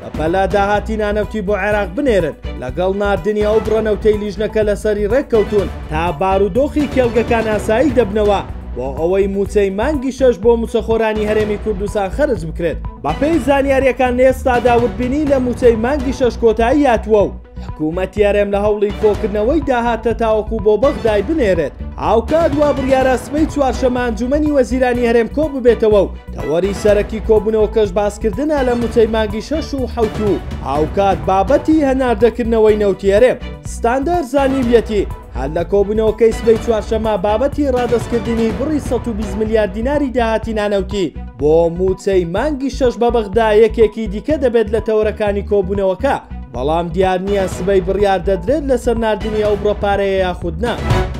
بەپەلە داهاتی نانەوتی بۆ عێراق بنێرن، لەگەڵ ناردنی ئەو بڕە نەوتەی لیژنەکە لەسەری رێککەوتوون، تا بارودۆخی کێڵگەکان ئاسایی دەبنەوە، بۆ ئەوەی مووچەی مانگی شەش بۆ مووچەخۆرانی هەرێمی کوردستان خەرج بکرێت. بەپێی زانیارییەکان لە ئێستادا وردبینی لە مووچەی مانگی شەش کۆتایی هاتووە و، حکومەتی هەرێم لە هەوڵی کۆکردنەوەی داهاتە تاوەکو بۆ بەغدای بنێرێت، هاوکات وا بڕیارە سبەی چوارشەممە ئەنجوومەنی وەزیرانی هەرێم کۆببێتەوە و تەوەری سەرەکی کۆبوونەوەکەش باسکردنە لە مووچەی مانگی شەش و حەوت و هاوکات بابەتی هەناردەکردنەوەی نەوتی هەرێم. ستاندەر زانیویەتی، هەر لە کۆبوونەوەکەی سبەی چوارشەممە بابەتی ڕادەستکردنی بڕی سەد و بیست ملیار دیناری داهاتی نانەوتی بۆ مووچەی مانگی شەش بە بەغدا یەکێکی دیکە دەبێت لە تەوەرەکانی کۆبوونەوەکە، بەڵام دیار نییە سبەی بڕیار دەدرێت لەسەر ناردنی ئەو بڕە پارەیە یاخود نا.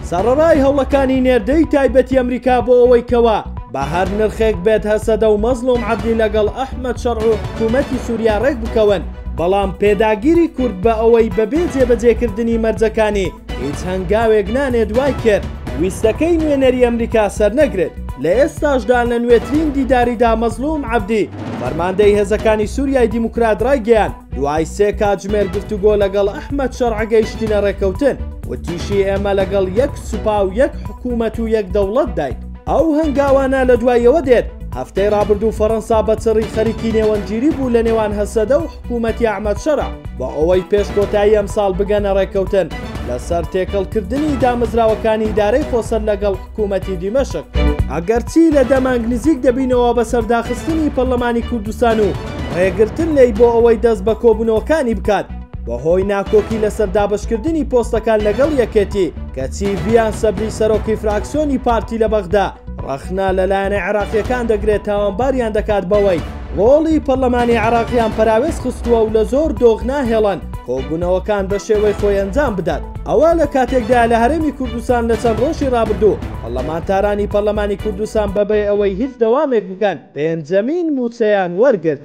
سەڕەرای هەوڵەکانی نێردەی تایبەتی ئەمریکا بۆ ئەوەی کەوا بە هەر نرخێک بێت هەسەدە و مەزڵوم عەبدی لەگەڵ ئەحمەد شەڕع و حکوومەتی سووریا ڕێک بکەون، بەڵام پێداگیری کورد بە ئەوەی بەبێ جێبەجێکردنی مەرجەکانی هیچ هەنگاوێک نانێت وای کرد ویستەکەی نوێنەری ئەمریکا سەرنەگرێت. لە ئێستاشدا لە نوێترین دیداریدا مەزڵوم عەبدی، فەرماندەی هێزەکانی سوریای دیموکرات رایگەیاند، دوای سێ کاتژمێر گفتوگۆ لەگەڵ ئەحمەد شەرع گەیشتینە رێککەوتن، وتیشی ئێمە لەگەڵ یەک سوپا و یەک حکومەت و یەک دەوڵەتداین. ئەو هەنگاوانە لە دواییەوە دێت، هەفتەی رابردوو فەرەنسا بە چڕی خەریکی نێوەندگیری بوو لە نێوان هەسەدە و حکوومەتی ئەحمەد شەرع بۆ ئەوەی پێش کۆتایی ئەمساڵ بگەنە رێککەوتن لەسەر تێکەڵکردنی دامەزراوەکانی ئیدارەی خۆسەر لەگەڵ حکوومەتی دیمەشق. ئەگەرچی لە دە مانگ نزیک دەبینەوە بەسەر داخستنی پەرلەمانی کوردستان و رێگرتن لێی بۆ ئەوەی دەست بە کۆبوونەوەکانی بکات، بەهۆی ناکۆکی لەسەر دابەشکردنی پۆستەکان لەگەڵ یەکێتی، کەچی ڤیان سەبری سەرۆکی فراکسیۆنی پارتی لە بەغدا ڕەخنە لە لایەنە عێراقییەکان دەگرێت تاوانباریان دەکات بەوەی ڕۆڵی پەڕلەمانی عێراقیان پەراوێز خستووە و لە زۆر دۆخ ناهێڵن کۆبوونەوەکان بە شێوەی خۆی ئەنجام بدات. ئەوە لە کاتێکدایە لە هەرێمی کوردستان لە چەند ڕۆژی ڕابردوو پەڕلەمانتارانی پەڕلەمانی کوردستان بەبێ ئەوەی هیچ دەوامێک بکەن پێنجەمین مووچەیان وەرگرت.